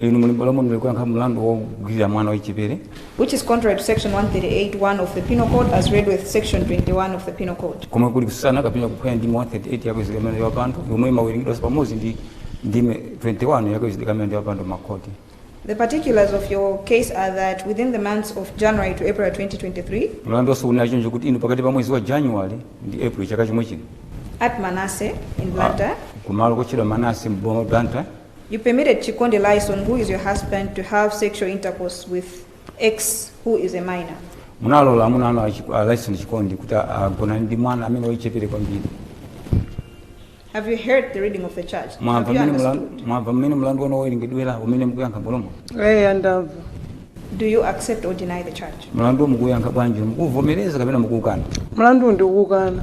Inu muli m'bwalo muno lero kuyankha mlandu wogwirira mwana wachichepere. which is contrary to section 138 1 of the Penal Code as read with section 21 of the Penal Code. komwe kuli kutsutsana kapena kuphwanya ndime 138 ya kaweruzidwe ka milandu ya upandu yomwe imawerengedwanso pamodzi ndi ndime 21 ya kaweruzidwe ka milandu ya upandu m'makhoti. The particulars of your case are that within the months of January to April 2023, Mlandu wonse unali choncho kuti inu pakati pa mwezi wa January ndi April chaka chomwe chino at Manase in Blantyre, kumalo kotchedwa Manase m'boma la Blantyre You permitted Chikondi Lyson who is your husband to have sexual intercourse with X who is a minor. munalola amuna anu achi- a Lyson Chikondi kuti agonane ndi mwana amene wachichepere kwambiri Have you heard the reading of the charge? Have mwamva you mmene understood? mulandu- mwamva mmene mulandu wanu wawerengedwera umene mukuyankha m'bwalo muno eya ndamva Do you accept or deny the charge? mulandu mukuyankha bwanji mukuvomereza kapena mukuukana mulandu ndikuukana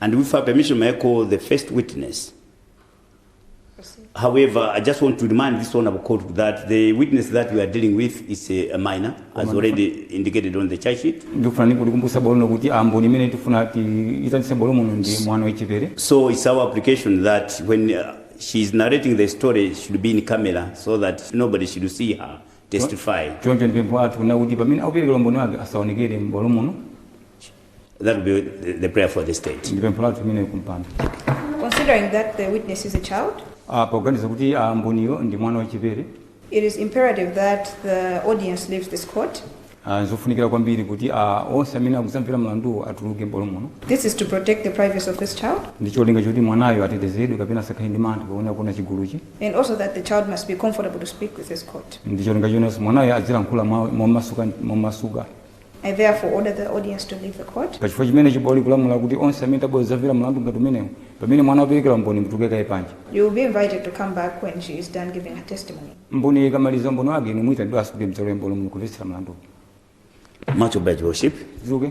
And with your permission, may I call the first witness? However, I just want to remind this honorable court that the witness that we are dealing with is a, a minor, as already indicated on the charge sheet. ndikufuna ndikumbutse bwalo lino kuti amboni imene tifuna tiyitanitse m'bwalo muno ndi mwana wachichepere So it's our application that when uh, she is narrating the story, it should be in camera so that nobody should see her testify. choncho ndi pempho lathu na kuti pamene akupereka umboni wake asaonekere m'bwalo muno That will be the, the prayer for the state. ndi pempho lathu limenelo kumbali Considering that the witness is a child, Ah, poganiza kuti ah, mboniyo ndi mwana wachichepere it is imperative that the audience leaves this court. ah, zofunikira kwambiri kuti ah, onse amene akudzamvera mlanduwo atuluke m'bwalo muno This is to protect the privacy of this child ndi cholinga choti mwanayo atetezedwe kapena asakhale ndi mantha poona kuona chiguluchi and also that the child must be comfortable to speak with this court. ndi cholinga chotinso mwanayo adzilankhula mwa- momasuka momasuka I therefore order the audience to leave the court. pachifukwa chimenechi bwalo likulamula kuti onse amene mwabwera kudzamvera mlandu ngati umenewu pamene mwana akupereka umboni mutuluke kaye panja You will be invited to come back when she is done giving her testimony. mboni ikamaliza umboni wake inu muyitanidwa asukule mdzalo ya mboni mukumvetsera mlandu Much obliged, Your Worship. zuke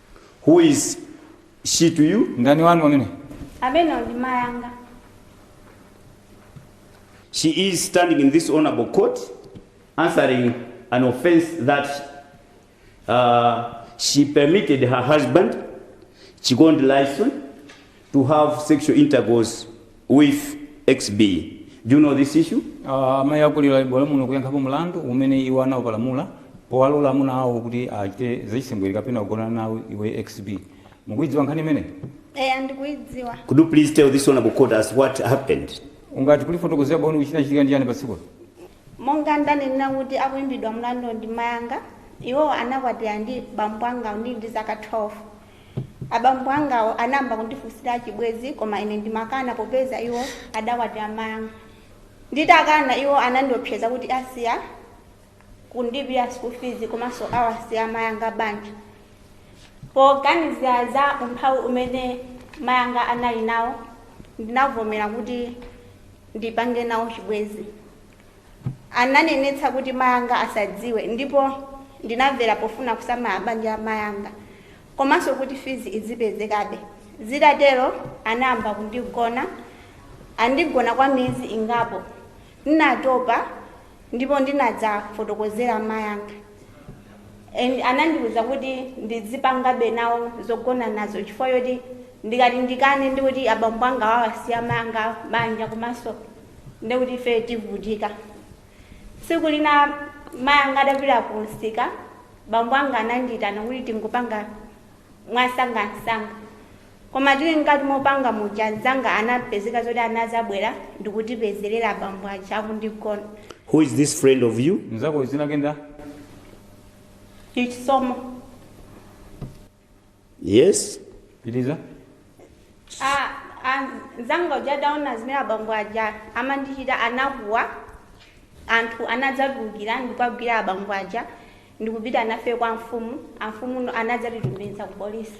Who is she to you? Ndani wanu ameneyu? Ameneyo ndi mayi anga. She is standing in this honorable court answering an offense that uh, she permitted her husband, Chikondi Lyson, to have sexual intercourse with xb do you know this issue Ah, amayi akowa ali bwalo muno kuyankhapo mlandu umene iwo anaupalamula powalola amuna awo kuti achite zachisembwere kapena kugonana nawo iwe xb ukuidziwa nkhani imeneyi eya ndikuidziwa could you please tell this honorable court as what happened ungati kulifotokozera bwino kuti chinachitika ndi chani pa tsikulo monga ndanena kuti akuimbidwa mlandu ndi mayanga iwo anakwatira ndi bambo anga ndili ndi zaka 12 Abambo angawo anayamba kundifunsira chibwenzi koma ine ndimakana popeza iwo adakwatira mayi anga. Nditakana iwo anandiopseza kuti asiya kundilipira school fees komanso awasiya mayi anga banja. Poganizira za umphawi umene mayi anga anali nawo ndinavomera kuti ndipange nawo chibwenzi. Ananenetsa kuti mayi anga asadziwe ndipo ndinamvera pofuna kusamala banja la mayi anga komanso kuti fizi izipezekabe. Zitatero anayamba kundigona. Andigona kwa miyezi ingapo. Ndinatopa ndipo ndinadzafotokozera mayi anga anandiuza kuti ndizipangabe nawo zogonanazo chifukwa choti ndikati ndikane ndikuti abambo anga awasiya mayi anga banja komanso ndi kuti ife tivutika tsiku lina mayi anga adapita ku msika bambo anga anandiyitana kuti tingopanga mwasangansanga koma tili mkati mopanga muja mzanga anapezeka zoti anazabwera ndikutipezerera bambo aja akundigona Who is this friend of you? mzako dzina lake ndani chisomo yes piliza Ah, ah, nzanga uja ataona zimene abambo aja amandichita anakuwa anthu anadzatulukira ndikuwagwira abambo aja ndikupita nafe kwa mfumu amfumu anadzatitumiza ku polisi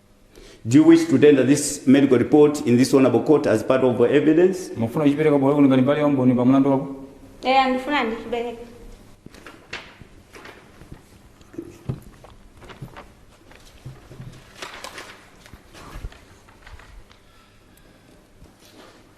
Do you wish to tender this medical report in this honorable court as part of your evidence? mufuna kuchipereka bwalo kuno ngati mbali ya umboni pa mlandu wako eya ndifuna ndichipereke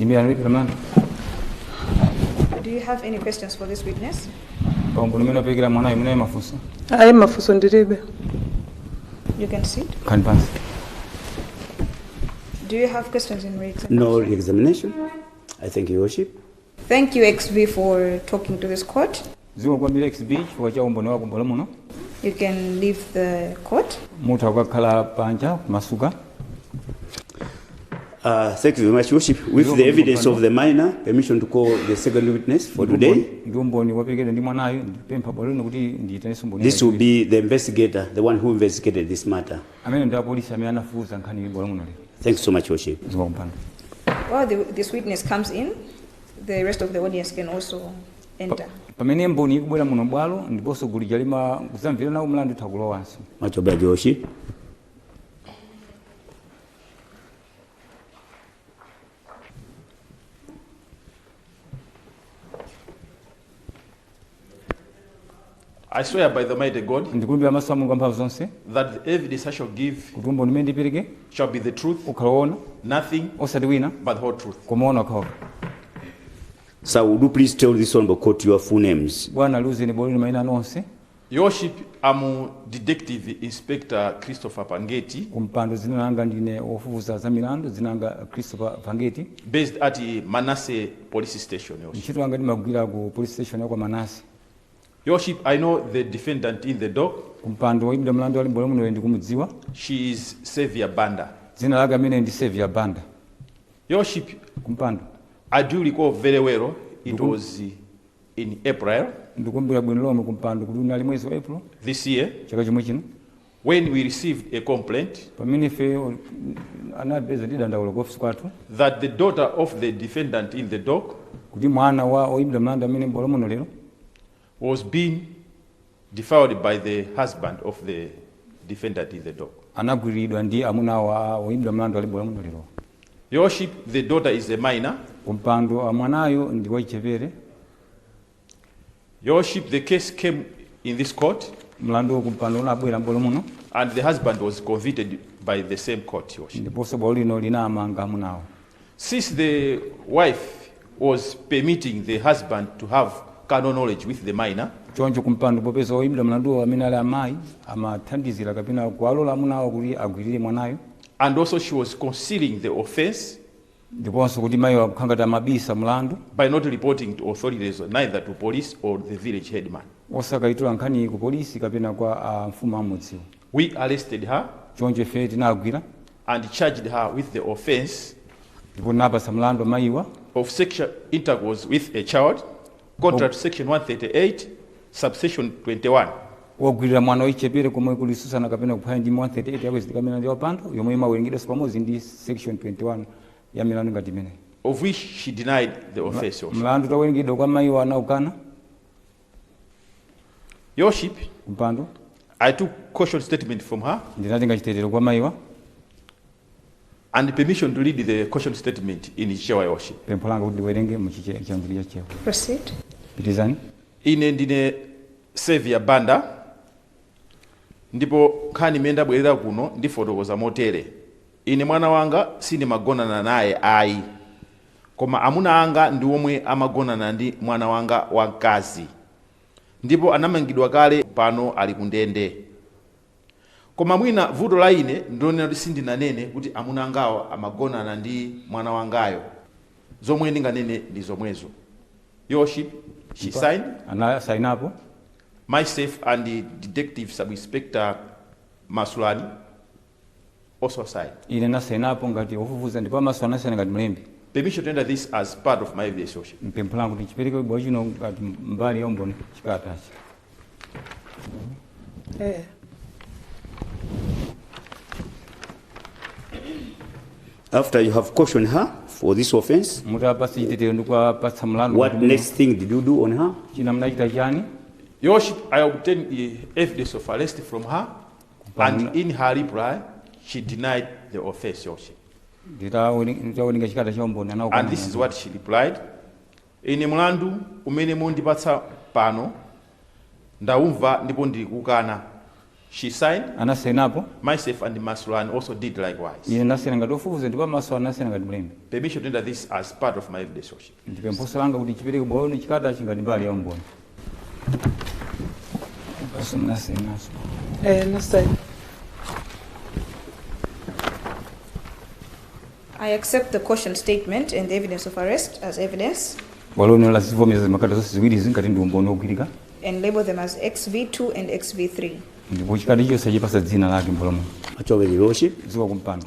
Imirirani pamenepo. Do you have any questions for this witness? Umboni umene wapereka mwana ameneyu mafunso. ayi mafunso ndilibe You can sit. Khalani pansi. Do you have questions in re-examination? No re-examination. I thank you, Your Worship. Thank you, XB, for talking to this court. zikomo kwambiri XB chifukwa cha umboni wako m'bwalo muno You can leave the court. mutha kukakhala panja mwamasuka Uh, thank you very much, Worship. With You're the welcome, evidence Mr. of the minor, permission to call the second witness for today. ndi umboni waperekedwa ndi mwanayo ndipempha bwalo lino kuti ndiyitanenso umboni This will be the investigator, the one who investigated this matter. amene ndi apolisi amene anafufuza nkhani ili m'bwalo muno lero Thanks so much, Worship. zikomo kumpando While the, this witness comes in, the rest of the audience can also enter. pamene mboni ikubwera muno m'bwalo ndiponso gulu lija limamvera nawo mlandu itha kulowanso Much obliged Worship. I swear by the mighty God ndikulumbira pamaso pa mulungu wamphamvu zonse that the evidence I shall give kuti umboni umene ndipereke shall be the truth, ukhala woona nothing osati wina but the whole truth. koma woona okhaokha Sir, would you please tell this honourable court your full names? Bwana liuzeni bwaloli maina anu onse. Your Worship I'm Detective Inspector Christopher Pangeti. Kumpando dzina langa ndine wofufuza za milandu dzina langa Christopher Pangeti. Based at Manase Police Station Your Worship. Ntchito yanga ndimagwira ku police station ya kwa Manase. Your Worship I know the defendant in the dock. Kumpando woyimbidwa mlandu ali m'bwalo muno ndikumudziwa. She is Xavier Banda. Dzina lake amene ndi Xavier Banda. Your Worship kumpando I do recall very well it Ndukun- was in April ndikukumbukira bwino lomwe kumpando kuti unali mwezi wa april this year chaka chomwe chino when we received a complaint pamene ife o- anapeza ndi dandaulo ku ofisi kwathu that the daughter of the defendant in the dock kuti mwana wa oyimbidwa mlandu amene ali m'bwalo muno lero was being defiled by the husband of the defendant in the dock. anagwiriridwa ndi amuna awo a oyimbidwa mlandu ali m'bwalo lerowo. Your Worship, the daughter is a minor. kumpando mwanayo ndi wachichepere. Your Worship, the case came in this court mlanduwo kumpando unabwera m'bwalo muno and the husband was convicted by the same court, Your Worship. ndiponso bwalo lino linamanga amunawo. Since the wife was permitting the husband to have carnal knowledge with the minor, choncho kumpando popeza oyimbidwa mlanduwo amene ali amayi amathandizira kapena kuwalola amuna awo kuti agwirire mwanayo and also she was concealing the offense ndiponso kuti mayiwo akukhala ngati amabisa mlandu by not reporting to authorities, neither to police or the village headman. osakaitula nkhaniyi ku polisi kapena kwa a mfumu a m'mudziwo We arrested her choncho ife tinagwira and charged her with the offence. ndipo tinawapatsa mlandu amayiwa. of sexual intercourse with a child contrary to section 138 subsection 21. wogwirira mwana wachichepere komwe kuli kutsutsana kapena kuphwanya ndime 138 ya kuzenga milandu ya upandu yomwe imawerengedwanso pamodzi ndi section 21 ya milandu ngati imeneyi. of which she denied the offence also. mlandu utawerengedwa kwa mayiwa anaukana. Your Worship, kumpando I took caution statement from her ndinatenga chitetero kwa mayiwa and permission to read the caution statement in Chichewa Your Worship. pempho langa kuti ndiwerenge mu Chiche- chiyankhulo cha Chichewa Proceed. pitizani Ine ndine Selvia Banda ndipo nkhani imene ndabwerera kuno ndifotokoza motere. Ine mwana wanga sindimagonana naye ayi. Koma amuna anga ndi omwe amagonana ndi mwana wanga wa mkazi ndipo anamangidwa kale pano ali ku ndende. Koma mwina vuto la ine ndi lonena kuti sindinanene kuti amuna angawo amagonana ndi mwana wangayo. Zomwe ndinganene ndi zomwezo. Your Worship, she Ndipo signed. anasainapo. Myself and Detective Sub-Inspector Masulani. also signed. Ine ndinasainapo ngati ofufuza ndipo a Maso anasaina ngati mlembi. Permission to enter this as part of my evidence, Your Worship. Ndi pempho langa kuti chiperekedwe m'bwalo lino ngati mbali ya umboni chikatachi. Eh. After you have cautioned her for this offense, Mutawapatsa chitetero ndi kuwapatsa mlandu. what next thing did you do on her? China munachita chani? Your worship, I obtained the evidence of arrest from her. And in her reply, she denied the offense Your Worship. nditawerenga chikalata cha umboni anaukana And this is mlandu. what she replied. Ine mlandu umene mundipatsa pano ndaumva ndipo ndikuukana. She signed, anasainapo myself and Masulani also did likewise. ine ndinasaina ngati ofufuza ndipo a Maso anasaina ngati mlembi Permission to enter this as part of my evidence Your Worship. Ndi pemphonso langa kuti chiperekedwe bwalo lino chikalatachi ngati mbali ya umboni. Basi munasainanso. Eh, ndinasaina. I accept the caution statement and the evidence of arrest as evidence Bwalo lino lazivomereza zikalata zonse ziwiri ngati ndi umboni wogwirika and label them as XV2 and XV3. ndipo chikalata chilichonse achipatsa dzina lake m'bwalomo. Actually Your Worship kumpando.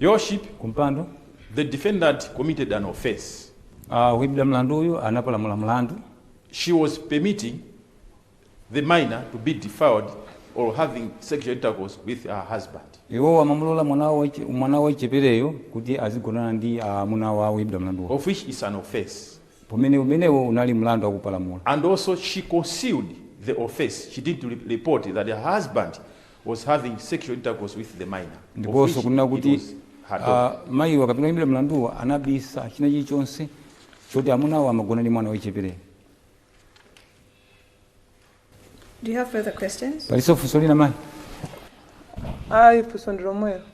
Your worship, kumpando. the defendant committed an offense. Uh, woyimbidwa mlanduyu anapalamula mlandu. She was permitting the minor to be defiled or having sexual intercourse with her husband. Iwo amamulola mwana wa mwana wachichepereyo kuti azigonana ndi amuna ah, a woyimbidwa mlanduwo. Of which is an offense. Pamene umenewo unali mlandu anapalamula. And also she concealed the offense. She didn't report that her husband was having sexual intercourse with the minor, of ndiponso which kunena kuti was her daughter. ah, mayiwa kapena oyimbidwa mlanduwa anabisa china chilichonse choti amunawo amagonana ndi mwana wachichepereyo Do you have further questions? palinso funso lina mayi ayi funso ndi lomwelo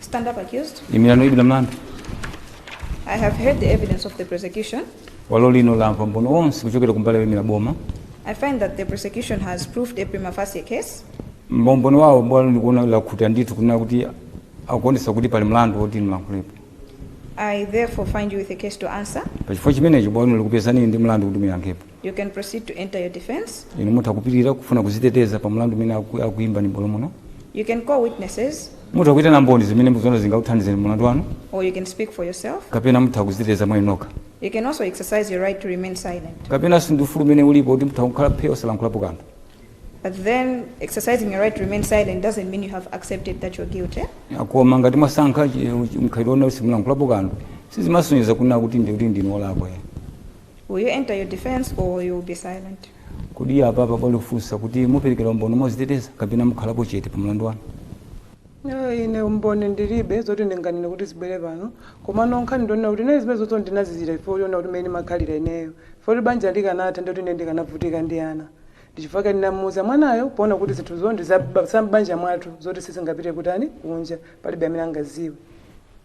Stand up accused. imirani oimbidwa mlandu I have heard the evidence of the prosecution. bwalo lino lamva umboni onse kuchokera kumbali yoimira boma I find that the prosecution has proved a prima facie case. mu umboni wawo bwalo likuona lakhuta ndithu kunena kuti akuonesa kuti pali mlandu woti mulankhulepo I therefore find you with a case to answer. pachifukwa chimenecho bwalo lino likupezani ndi mlandu kuti muyankhepo You can proceed to enter your defense. inu mutha kupitirira kufuna kuziteteza pa mlandu umene aku- akuimbani m'bwalo muno You can call witnesses mutha kuitana mboni zimene mukuziona zingakuthandizeni mlandu wanu or you can speak for yourself. kapena mutha kuziteteza mwa inu nokha You can also exercise your right to remain silent. kapenanso ndi ufulu umene ulipo kuti mutha kukhala phe osalankhulapo kanthu But then exercising your right to remain silent doesn't mean you have accepted that you're guilty. koma ngati mwasankha chi- mkhalidwe woti simulankhulapo kanthu sizimasonyeza kunena kuti ndi kuti ndinu olakwa Will you enter your defense or you will be silent? Kodi apapa bwalo likufunsa kuti muperekera umboni moziteteza kapena mukhalapo chete pa mlandu wanu? No, ine umboni ndilibe zoti ndinganene kuti zibwere pano komano nkhani ndi yonena kuti ine zimenezozo ndinazizira ifo yona kuti mmene ndimakhalira ineyo ifo kuti banja likanatha ndoti ine ndikanavutika ndi ana ndichifukwa chake ndinamuuza mwanayo poona kuti zinthuzo ndi za banja mwathu zoti sizingapite kutani kunja palibe amene angaziwe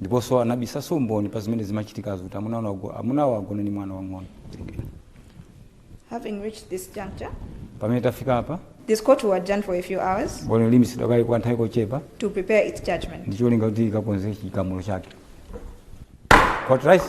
Ndiponso anabisanso umboni pa zimene zimachitikazo kuti amuna anu ago- amunawo agone ndi mwana wamng'ono. Werengera. Having reached this juncture, Pamene tafika apa, this court will adjourn for a few hours bwalo liimitsidwa kaye kwa nthawi kochepa to prepare its judgment. ndi cholinga kuti likakonze chigamulo chake. Court rise.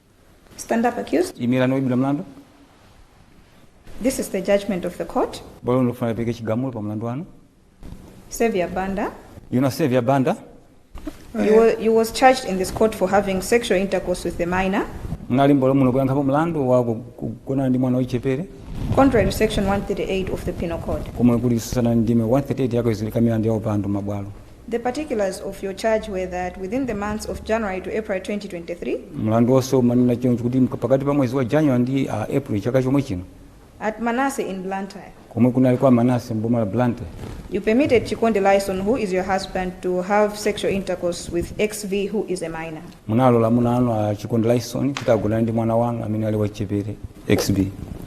Stand up, accused. imirani woimbidwa mlandu This is the judgment of the court. bwalo likufuna lipereke chigamulo pa mlandu wanu Sylvia Banda. inu a Sylvia Banda You, were, you was charged in this court for having sexual intercourse with a minor. munali m'bwalo muno kuyankhapo mlandu wa ku- ku- kugonana ndi mwana wochepere Contrary to section 138 of the Penal Code. komwe kuli kutsutsana ndi ndime 138 ya kazengedwe ka milandu ya upandu m'mabwalo The particulars of your charge were that within the months of January to April 2023, Mlandu wonse umanena choncho kuti mka- pakati pa mwezi wa January ndi ah, April chaka chomwe chino at Manase in Blantyre, komwe kunali kwa Manase m'boma la Blantyre you permitted Chikondi Lyson, who is your husband, to have sexual intercourse with XV, who is a minor. munalola amuna anu a Chikondi Lyson kuti agonane ndi mwana wanu amene ali wachichepere XB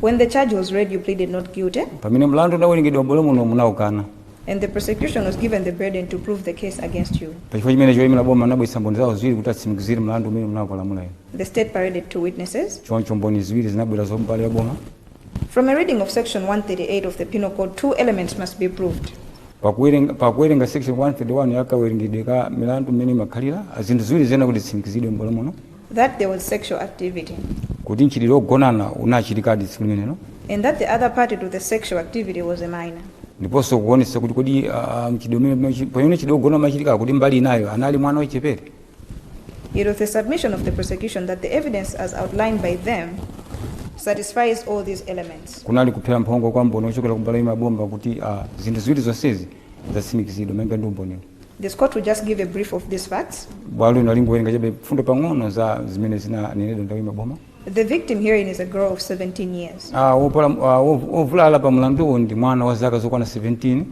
When the charge was read, you pleaded not guilty. pamene mlandu unawerengedwa m'bwalo muno munaukana and the prosecution was given the burden to prove the case against you. Pa chifukwa chimenecho oyimira boma anabweretsa mboni zawo ziwiri kuti atsimikizire mlandu umene munapalamula inu. The state paraded two witnesses. Choncho mboni ziwiri zinabwera za mbali ya boma. From a reading of section 138 of the Penal Code, two elements must be proved. Pakuwerenga pakuwerenga section 131 ya kawerengedwe ka milandu mmene imakhalira, zinthu ziwiri ziyenera kuti zitsimikizidwe m'bwalo muno. That there was sexual activity. Kuti mchitidwe ogonana unachitikadi tsiku limenelo. And that the other party to the sexual activity was a minor. Ndiponso kuonetsa kuti kodi uh, mchitidwe pamene mchitidwe ogonana umachitika kuti mbali inayo anali mwana wachepere. It was the submission of the prosecution that the evidence as outlined by them satisfies all these elements. Kunali kuphera mphongo kwa mboni ochokera kumbali ya a boma kuti uh, zinthu ziwiri zonsezi zatsimikizidwa malinga ndi umboniwo. This court will just give a brief of these facts. bwalo lino lingowerenga chabe mfundo pang'ono za zimene zinanenedwa ndi oyimira boma The victim herein is a girl of 17 years, Ah, wopola- ah, wov- wovulala pa mlanduwu ndi mwana wa zaka zokwana 17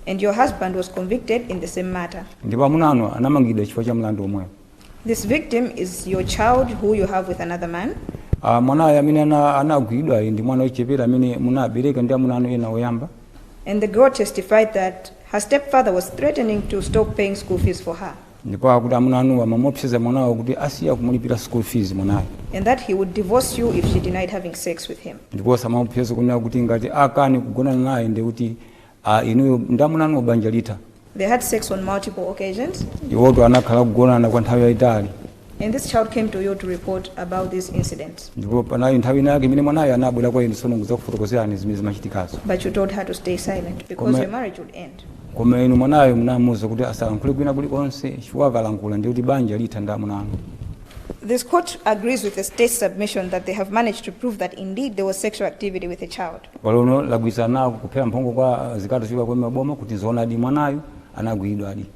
and your husband was convicted in the same matter. ndipo amuna anu anamangidwa chifukwa cha mlandu omwewu This victim is your child who you have with another man. Ah, mwanayo amene ana- anagwidwayo ndi mwana wochepere amene munabereka ndi amuna anu ena oyamba And the girl testified that her stepfather was threatening to stop paying school fees for her ndipo akuti amuna anuwa amamuopseza mwanawo kuti asiya kumulipira school fees mwanayo and that he would divorce you if she denied having sex with him. ndiponso amamuopseza kunena kuti ngati akane kugonana naye ndi kuti A, inuyo ndamunanu banja litha. They had sex on multiple occasions. Iwotu anakhala kugonana kwa nthawi yayitali. And this child came to you to report about this incident. Ndipo panali nthawi ina yake imene mwanayo anabwera kwa inu sono kudzakufotokozerani zimene zimachitikazo. But you told her to stay silent because Koma- your marriage would end. Koma inu mwanayo munamuwuza kuti asalankhule kwina kulikonse chifukwa akalankhula ndi kuti banja litha ndamunanu. This court agrees with the state's submission that they have managed to prove that indeed there was sexual activity with a child. Bwalo lino lagwirizana nawo kuphera mphongo kwa zikalata zochokera kwa a boma kuti zoonadi mwanayo anagwiridwadi.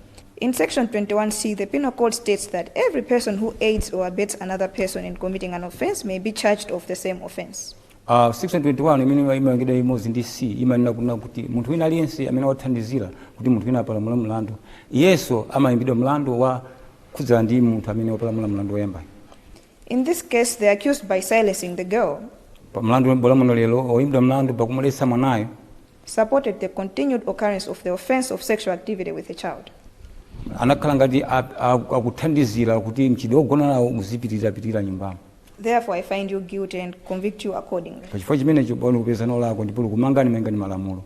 In section 21C, the penal code states that every person who aids or abets another person in committing an offense may be charged of the same offense. Uh, section 21 imene imawerengedwa imodzi ndi c imanena kunena kuti munthu wina aliyense amene wathandizira kuti munthu wina apalamule mlandu iyenso amayimbidwa mlandu wo khudzana ndi munthu amene wapalamula mlandu woyambayo. In this case, the accused, by silencing the girl, Pa mlandu wa m'bwalo muno lero, oyimbidwa mlandu pakumuletsa mwanayo supported the continued occurrence of the offense of sexual activity with a child. anakhala ngati a- a- akuthandizira kuti mchitidwe wogonanawo uzipitirirapitirira nyumbamo. Therefore, I find you guilty and convict you accordingly. Pa chifukwa chimenecho bwalo lakupezani olakwa ndipo likumangani malinga ndi malamulo.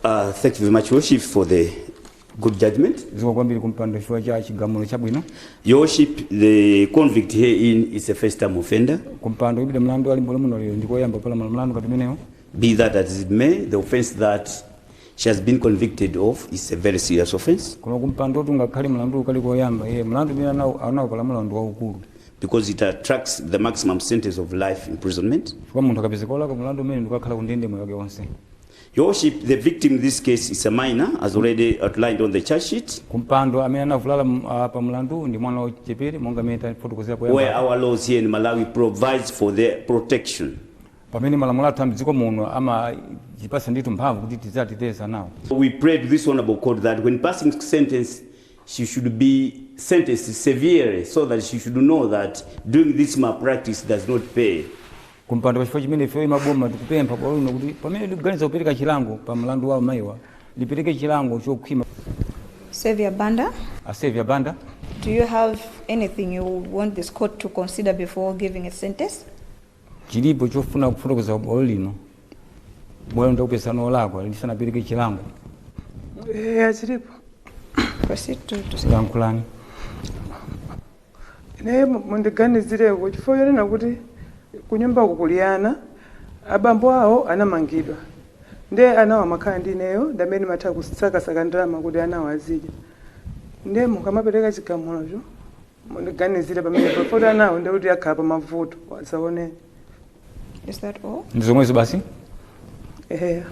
Uh, thank you very much, Your Worship, for the good judgment. zikomo kwambiri kumpando chifukwa cha chigamulo chabwino Your Worship, the convict herein is a first time offender. kumpando oyimbidwa mlandu ali m'bwalo muno lero ndikoyamba kupalamula mlandu ngati umenewo Be that as it may, the offense that she has been convicted of is a very serious offense. koma kumpando ngakhale mlandu kali koyamba iye mlandu umene anawo anaupalamula mlandu waukulu because it attracts the maximum sentence of life imprisonment. chifukwa munthu akapezeka olakwa mulandu umenewu ndikukakhala ku ndende moyo wake wonse Your Worship, the victim in this case is a minor, as already outlined on the charge sheet, kumpando amene anavulala m- ah, pa mulandu ndi mwana wachichepere monga mmene tafotokozera poyamba where our laws here in Malawi provides for their protection. pamene malamulo athu a mdziko muno amatipatsa ndithu mphamvu kuti tidziwateteza anawo We pray to this honorable court that when passing sentence, she should be sentenced severely so that she should know that doing this malpractice does not pay. kumpando pachifukwa chimenechi ifeyo aboma tikupempha bwalo lino kuti pamene likuganiza kupereka chilango pa mlandu wa amayiwa lipereke chilango chokhwima Sylvia Banda, a Sylvia Banda do you have anything you want this court to consider before giving a sentence? Chilipo chofuna kufotokoza bwalo lino? Bwalo litakupezani olakwa lisanapereke chilango. Eya chilipo. Proceed to Lankhulani. Ine mu- mundiganizireko chifukwa chonena kuti kunyumba kuli ana abambo awo anamangidwa nde anawo amakhala ndi ineyo ndamene ndimatha kusakasaka ndalama kuti anawo azidya nde mukamapereka chigamulocho mundiganizire pamenepo poti anawo ndekuti akhala pamavuto adzaoneni Is that all? ndi zomwezo basi eya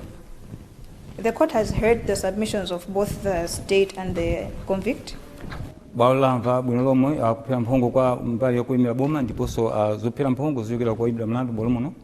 The court has heard the submissions of both the state and the convict. bwalo lamva bwino lomwe kuphera mphongo kwa mbali yokuimira boma ndiponso ah, zophera mphongo zochokera kwa oyimbidwa mlandu m'bwalo muno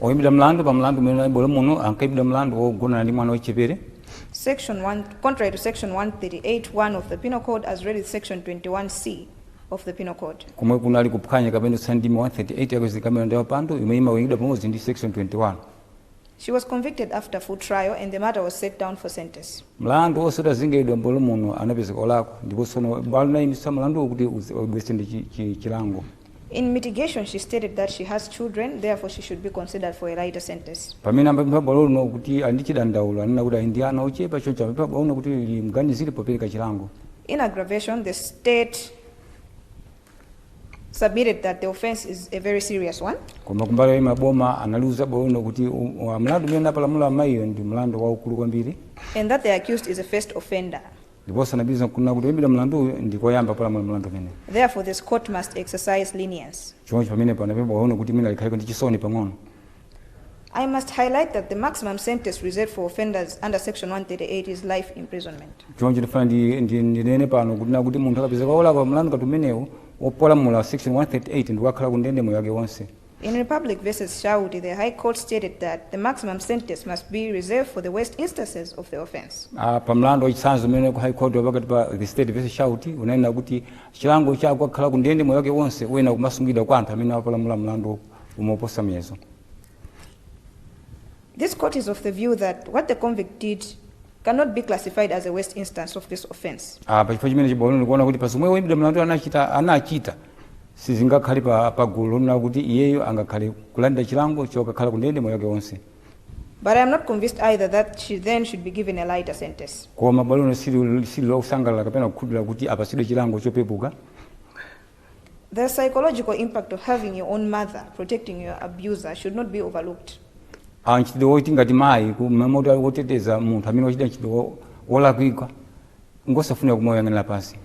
Oyimbidwa mlandu pa mlandu umene unali m'bwalo muno ankayimbidwa mlandu wogonana ndi mwana wachichepere. Section 1, Contrary to section 138 1 of the Penal Code as read with section 21 C of the Penal Code. komwe kunali kuphwanya kapena kutsutsana ndi ndime 138 ya buku lokamba milandu ya upandu imene imawerengedwa pamodzi ndi section 21. She was convicted after full trial and the matter was set down for sentence. Mlandu onse utazengeredwa m'bwalo muno anapezeka olakwa ndipo tsono bwalo linayimitsa mlanduwo kuti uzi- ubwere ndi chi- chi- chilango. In mitigation she stated that she has children therefore she should be considered for a lighter sentence. Pamene amaliuza bwalo lino kuti ali ndi chidandaulo anena kuti ali ndi ana ochepa choncho amapempha bwalo lino kuti limganizire popereka chilango. In aggravation the state submitted that the offense is a very serious one. Koma kumbali yoimira boma analiuza bwalo lino kuti mlandu umene anapalamula amayiyo ndi mlandu waukulu kwambiri. And that the accused is a first offender. ndiponso anapitiriza kunena kuti woimbidwa mlanduyu ndi koyamba kupalamula mlandu umenewu. Therefore, this court must exercise lenience. Choncho pamenepo anapempha bwalo lino kuti mwina likhaleko ndi chisoni pang'ono. I must highlight that the maximum sentence reserved for offenders under section 138 is life imprisonment. Choncho ndifuna ndinene pano kuti na kuti munthu akapezeka wolakwa mlandu ngati umenewu wopalamula section 138 ndi kukakhala ku ndende moyo wake wonse. In Republic versus Shauti, the High Court stated that the maximum sentence must be reserved for the worst instances of the offense. Ah, pa mlandu wachitsanzo umene ku High Court wapakati pa the State versus Shauti unanena kuti chilango chokakhala kundende moyo wake wonse uyenera kumasungidwa kwa anthu amene apalamula mlandu woposa muyezo. This court is of the view that what the convict did cannot be classified as a worst instance of this offense. Ah, pa chifukwa chimenechi bwalo lino likuona kuti pa zomwe woimbidwa mlandu anachita sizingakhale pa, pa gulu lonena kuti iyeyo angakhale kulandira chilango chokakhala kundende moyo wake wonse But I am not convinced either that she then should be given a lighter sentence. koma bwalo lino sili sili losangalala kapena kukhulupirira kuti apatsidwe chilango chopepuka The psychological impact of having your own mother protecting your abuser should not be overlooked. Ah, mchitidwe woti ngati mayi kumamuteteza munthu amene wachita mchitidwe wo- wolakwika ngosafunika kumauyang'anira pansi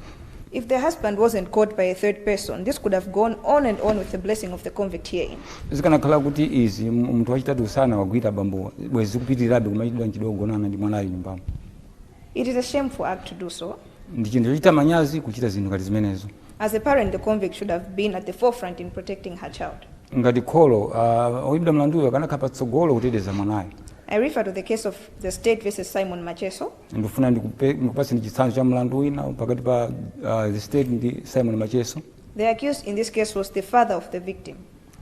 If the husband wasn't caught by a third person, this could have gone on and on with the blessing of the convict herein. zikanakhala kuti izi m- munthu wachitatu usanawagwire bambowa bwezi zikupitirirabe kumachitidwa mchitidwe wogonana ndi mwanayo nyumbamo It is a shameful act to do so, ndi chinthu chochita manyazi kuchita zinthu ngati zimenezo As a parent, the convict should have been at the forefront in protecting her child. ngati kholo uh, oyimbidwa mlanduyo akanakhala patsogolo kuteteza mwanayo I refer to the case of the state versus Simon Macheso, ndifuna ndikupe- ndikupatseni chitsanzo cha mlandu wina pakati pa uh, the state ndi simon macheso The accused in this case was the father of the victim.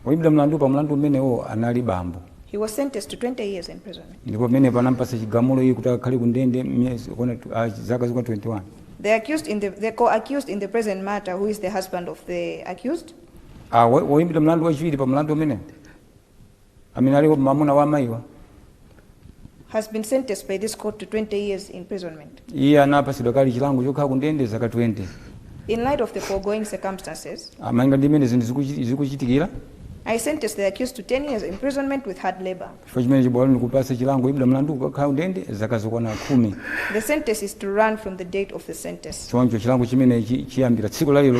Oyimbidwa mlandu pa mlandu umenewo anali bambo. He was sentenced to 20 years imprisonment. Ndipo pamenepo anampatsa chigamulo iye kuti akhale ku ndende miyezi yokwana tw- ah, zaka zokwana 21. The accused in the, the co-accused in the present matter, who is the husband of the accused, Ah, wo- woyimbidwa mlandu wachiwiri pa mlandu umenewo amene ali mamuna wa amayiwa has been sentenced by this court to 20 years imprisonment. iye anapatsidwa kale chilango chokhala ku ndende zaka 20 In light of the foregoing circumstances, ah, malinga ndi mmene zinthu zikuchi- zikuchitikira I sentence the accused to 10 years imprisonment with hard labor. chifukwa chimenechi bwalo likupasa chilango woyimbidwa mlandu kukakhala ku ndende zaka zokwana khumi The sentence is to run from the date of the sentence. choncho chilango chimenechi chiyambira tsiku lalero